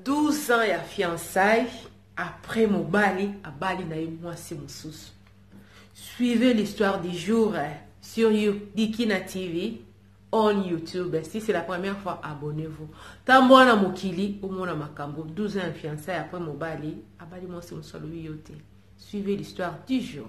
12 ans ya fiançaille après mobali abali na ye mwasi mosusu suivez l'histoire du jour sur dikina tv on youtube si c'est la première fois abonnez-vous ntango wana mokili omona makambo 12 ans ya fiançaille après mobali abali mwasi mosusu alobi yo te suivez l'histoire du jour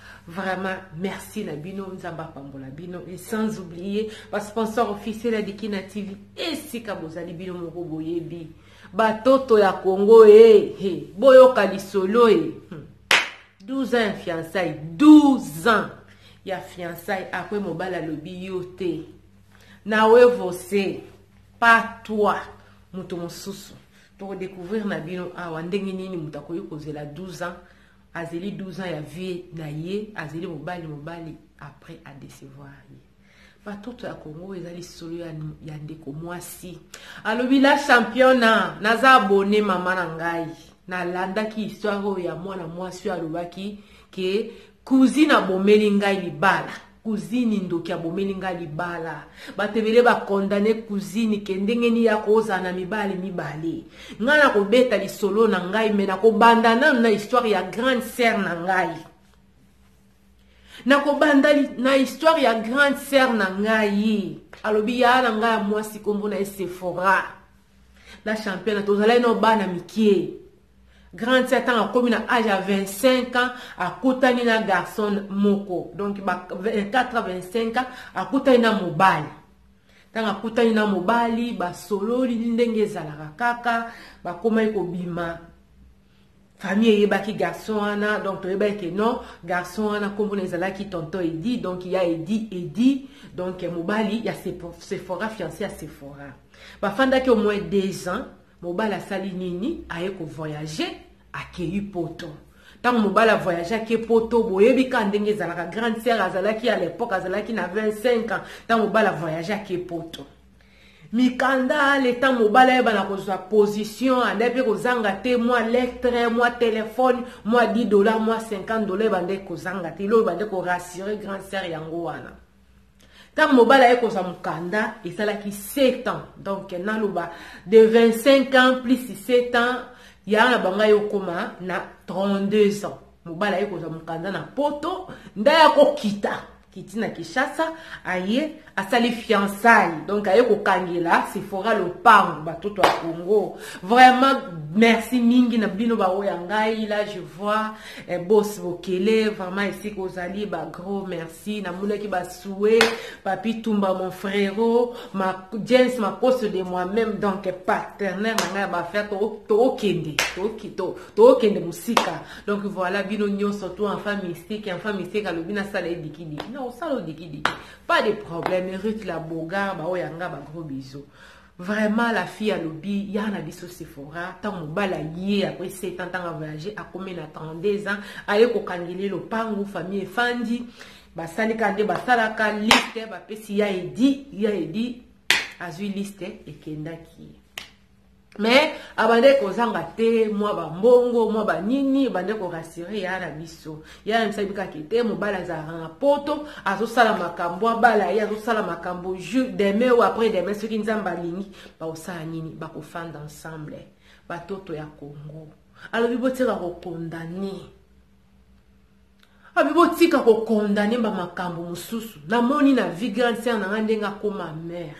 Vraiment merci na bino nzambe apambola bino et sans oublier ba sponsor officiel ya Dikina TV esika bozali bino moko boyebi batoto ya Congo eh, eh boyoka lisolo eh. 12 ans ya fiançailles 12 ans ya fiançailles après mobali alobi yo te na wevose pas toi moto mosusu tokodécouvrir na bino awa ndenge nini moto akoki kozela 12 ans Azeli 12 ans ya vie na ye azeli mobali mobali après a decevoir ye. Batoto ya Congo eza lisolo ya, ya ndeko mwasi alobi la championa naza abone mama na ngai nalandaki histoire oyo ya mwana mwasi oyo alobaki ke cousine abomeli ngai libala Cousine ndoki abomeli nga libala batu ebele ba condamne cousine ke ndenge nini ako ozala na mibali mibale nga nako beta lisolo na ngai me nako banda nanu na histoire ya grande sœur na ngai nako banda na histoire ya grande sœur na ngai alobi ya na ngai ya mwasi kombo na ye Sephora na champion tozalaki na bana mikie Grand sœur tanga akomi na age ya 25 ans akutani na garçon moko donc ba 24 à 25 ans akutani na mobali ntango akutani na mobali basololi ndenge ezalaka kaka bakomaki kobima famille eyebaki garçon wana donc toyebaki ke non garçon wana nkombo na ezalaki tonton edi donc ya edi edi donc mobali ya sephora fiance ya sephora bafandaki au moins deux ans Mobali asali nini? Aye ko voyager, akeyi poto. Tango mobali a voyager ake poto, boyebi ka ndenge ezalaka. Grande sœur azalaki à l'epoque azalaki na 25 ans, tango mobali a voyager ake poto. Mikanda le temps mobali ayeba na kozwa position, anda pe kozanga te mwa lettre, mwa telephone, mwa 10 dollars, mwa 50 dollars ebanda kozanga te. Ilo ebanda ko rassurer grande sœur yango wana. ntango mobali aye kozwa mokanda esalaki 7 ans donc naloba de 25 ans plus 7 ans yaa na bango aye okoma na 32 ans mobali aye kozwa mokanda na poto nde aya kokita kiti na kinshasa aye asali fiançaille donc aye kokangela sefora lopango batoto ya congo vraiment merci mingi na bino baoyo ya ngai la je vois eh, bos bokele vraiment esika ozali bagros merci si namonaki basue papi tumba mon frero ma, james makoso de moi-même donc partenaire na ngai ya bafere tookende tookende mosika donc voilà bino nyonso to enfant mystique enfant mystique alobi nasala edikidiki na osala odikidiki pas de problème ruth la bogar baoyo ya ngai bagros biso Vraiment la fille alobi ya na biso Sephora ntango mobali aye après 7 ans ntango avoyage akomi na 32 ans aye kokangeli lopangu famille efandi basali kaka nde basalaka liste bapesi ya edi ya edi azwi liste ekendaki ye mais abandaki kozanga te mwa bambongo mwa banini ebandaki korasire ya na biso ye ayebisaki kaka ke te mobali azalaka na poto azosala makambo abala ye azosala makambo jour demain ou après demain soki nzambe alingi bakosala nini bakofanda ensemble batoto ya congo alobi botika kokondane abi botika kokondane bamakambo mosusu namoni na vie grande sere na ngai ndenge akoma mare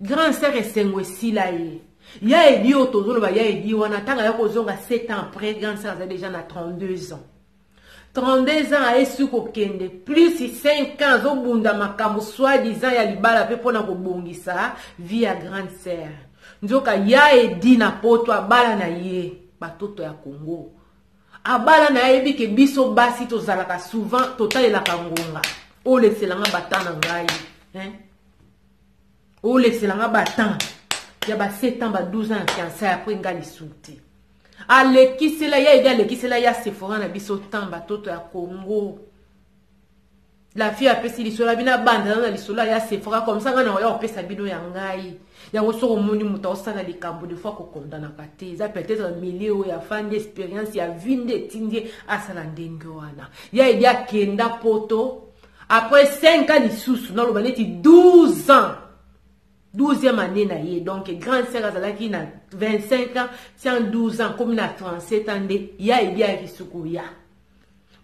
Grand sœur esengo esila ye. Ya edi oyo tozoloba ya edi wana ntango aya kozonga 7 ans après grande sœur azali déjà na 32 ans 32 ans ayesi kokende plus 5 ans azobunda makambo soit disant ya libala mpe mpo na kobongisa vie ya grande sœur nzoka ya edi na poto abala na ye batoto ya congo abala na ye ayebi ke biso basi tozalaka souvent totalelaka ngonga oleselanga bata na ngai hein? olekisela nga ba temps ya ba 7 ans ba 12 ans ya fiançaille après nga lisusu te alekisela ya ede alekisela ya sephora na biso temps batoto ya congo la fille apesi lisolo abina abanda na lisolo ya sephora comme ça nga na oya kopesa bino ya ngai yango soki omoni moto aosala likambo de fois kokondanaka te eza peut-être milieu oyo afandi expérience ya vie nde etindi asala ndenge wana ya ede akenda poto Après 5 ans lisusu na loba neti 12 ans 12e année na ye donc grande sœur azalaki na 25 ans ti en 12 ans akomi na 37 ans nde ye ayebi ayaki suku ya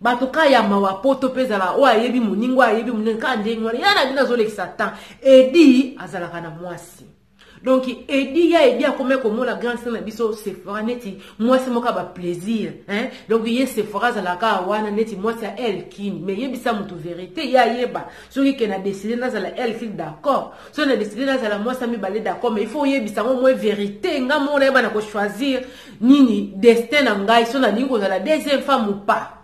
bato ka ya mawa poto mpe ezala oyo ayebi moninga oyo ayebi moninga kaka ndenge wana ya na bino azolekisa temps edi azalaka na mwasi donc edi ya edi akomi komona grand star na biso sephora neti mwasi moko ya baplaisir hein? donc ye sephora azalaka wana neti mwasi ya elkin mais yebisa motu verité ye ayeba soki ke na deside nazala elkin d'accord soki na deside nazala mwasi ya mibale d'accord mais il faut oyebisa yango mwe verité nga moko nayeba na kochoisir nini destin na ngai so nalingi kozala deuxième femme ou pas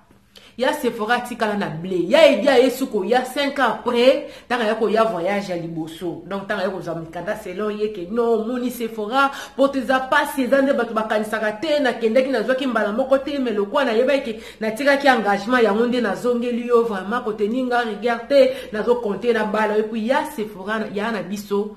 Ya Sephora atikala na ble. Ya Eddy aye su koya 5 ans après ntango aye koya voyage ya liboso. Donc ntango aye kozwa mikanda selon ye ke non omoni Sephora poto eza pasi eza nde bato bakanisaka te nakendaki nazwaki mbala moko te mais lokola nayebaki ke natikaki engagement yango nde nazongeli yo vraiment kotenir nga rigueur te nazo compter na bala yo puis ya Sephora ya na biso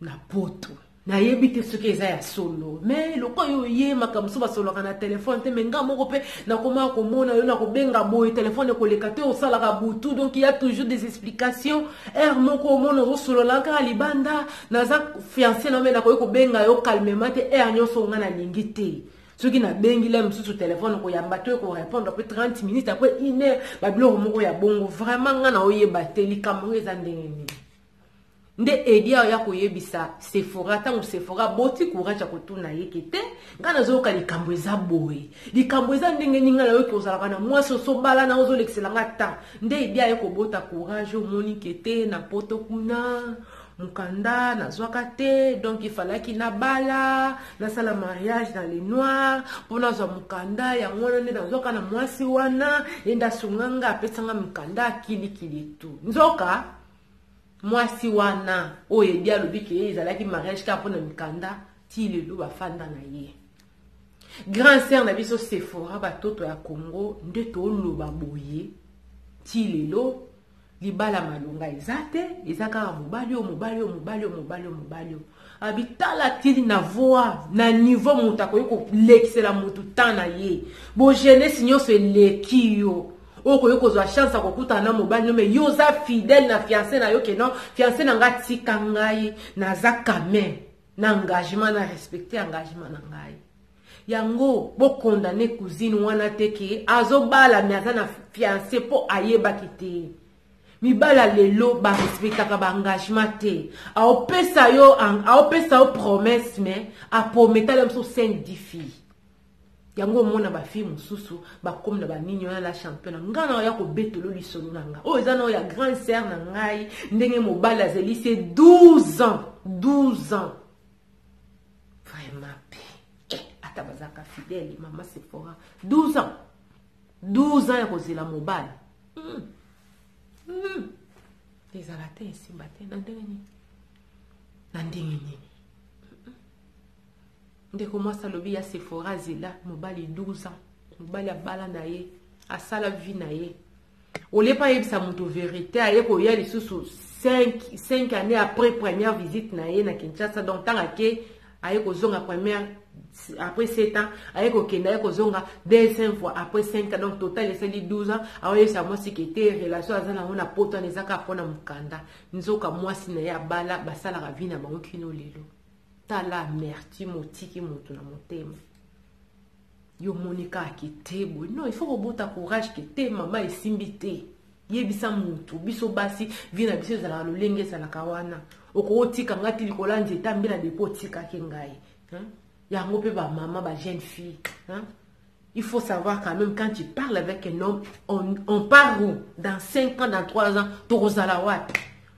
na poto nayebi te soki eza ya solo me lokola yo oye makambo so basololaka na telefone te me nga moko mpe nakomaka komona yo na kobenga boye telefone ekoleka te osalaka butu donc ya toujours des explications heure moko omona ozosolola kaka libanda naza fiance na me nakoki kobenga yo calmement te heure nyonso nga nalingi te soki nabengi la mosusu telefone koyamba to ekorepondre mpe 30 minutes apres une heure babiloko moko ya bongo vraiment nga na oyeba te likambo ngo eza ndenge nini nde Eddy aya koyebisa Sephora ntango Sephora aboti courage ya kotuna ye ke te ngai nazoyoka likambo eza boye likambo eza ndenge nini ngai nayoki ozalaka na mwasi osobala na ozolekisela ngai temps nde Eddy aye kobota courage omoni ke te na poto kuna mokanda nazwaka te donc ifalaki nabala nasala mariage na le noir mpo nazwa mokanda yango wana nde nazwaka na mwasi wana ye nde asunganga apesanga mokanda akilikili tu nzoka mwasi wana oyo edi alobi ke ezalaki mariage kaka mpona mikanda ti lelo bafanda na ye grand sere na biso sephora batoto ya congo nde toloba boye ti lelo libala malonga eza te eza kaka mobali oyo mobali oyo mobali oyo mobali oyo mobali oyo abitalatili na voi na niveau moto akoki kolekisela moto temps na ye bogenesi nyonso eleki yo okoki kozwa chance ya kokutana na mobali no me yo oza fidèle na fiance na yo ke non fiance na ngai atika ngai naza kamen na engagement na respecte engagement na ngai yango bokondane cousine wana te ke azobala me aza na fiance mpo ayebaki te mibala lelo ba respectaka ba engagement te aopesa yo aopesa yo promesse mais aprometala yo mosusu sainte di fille yango omona bafille mosusu bakomi na banini wana la championa ngai na oya kobetolo lisolo na ngai oyo eza na oyo ya grande sere na ngai ndenge mobali azali se 12 ans 12 ans vraiment pe eh, ata bazalaka fidele mama sephora 12 ans 12 ans ya kozela mobali mm. Mm. ezala te esimba te na ndenge nini na ndenge nini ndeko mwasi alobi ya sephora azela mobali 12 ans mobali abala na ye asala vie na ye olie pa ayebisa moto verite aye koya lisusu 5 année après première visite na ye na kinshasa donc ntango ake aye kozonga première après 7 ans aye kokenda aye kozonga deuxième fois après 5 ans donc total esali 12 ans aoyebisa mwasi ke te relation aza nango na poto wana ezaka mpo na mokanda nzoka mwasi na ye abala basalaka vi na bango kino lelo tala amertime otiki moto na motema Yo omoni kaka ke te boye non il faut kobota courage ke te maman esimbi te yebisa mutu biso basi vie na biso ezalaka lolenge ezalaka wana okotika nga ti likolo ya nzete ambila depo otika ke ngai hein? yango pe ba maman ba jeune fille hein? il faut savoir quand même quand tu parles avec un homme on, on part où dans 5 ans dans 3 ans tokozala wapi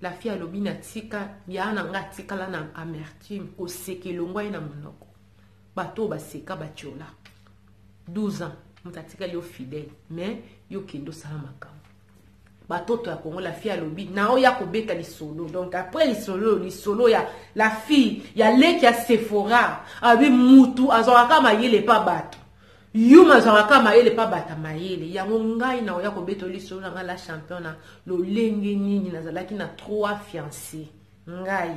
La fille alobi na tika yaya na nga atikala na amertume koseka elongwa ye na monoko bato oyo baseka batiola 12 ans moto atikali yo fidèle mais yo kende osala makambo batoto ya kongo la fille alobi na oya kobeta lisolo donc après lisolo lisolo ya la fille ya leki ya sephora alobi mutu azwaka kaka mayele epa bato Yuma azwaka ka mayele pa bata mayele yango ngai na oya kobeto lisolo na ngai la champion na lolenge nini nazalaki na trois fiancé ngai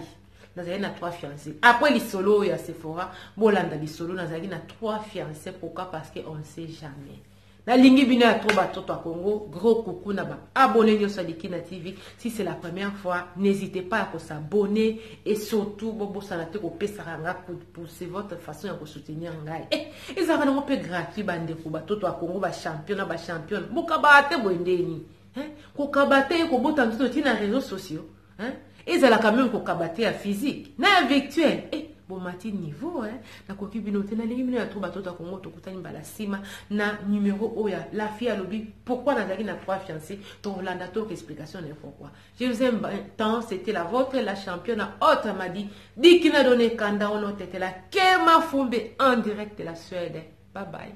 nazalaki na trois fiancé après lisolo oyo ya sephora bolanda lisolo nazalaki na trois fiancé pourquoi parce que on ne sait jamais nalingi bino ya trop batoto ya congo gros coucou na baabone nyonso ya likina tv si c'est la première fois n'hésitez pas ya kosabone et surtout bobosana te kopesaka nga coup pour c'est votre façon ya kosoutenir ngai eh, ezalaka nango mpe gratuit bandeko batoto ya kongo bachampion na bachampione bokabaa te boye ndeni eh, kokaba te ye kobota nzoto ti na réseau sociaux eh, ezalaka meme kokaba te ya physique na ya virtuel eh, bomati niveau eh? nakoki bino te nalingi bino ya to batoto ya kongo tokutani mbala nsima na numero oyo ya lafi alobi pourkui nazalaki na trois fiancé tokolanda toyoka explication na ye pourkui Je vous aime tant, c'était la votre, la championne haute Amadi, Dikina Done Kanda Olotetela, Kema Fumbe en direct de la Suède. Bye bye.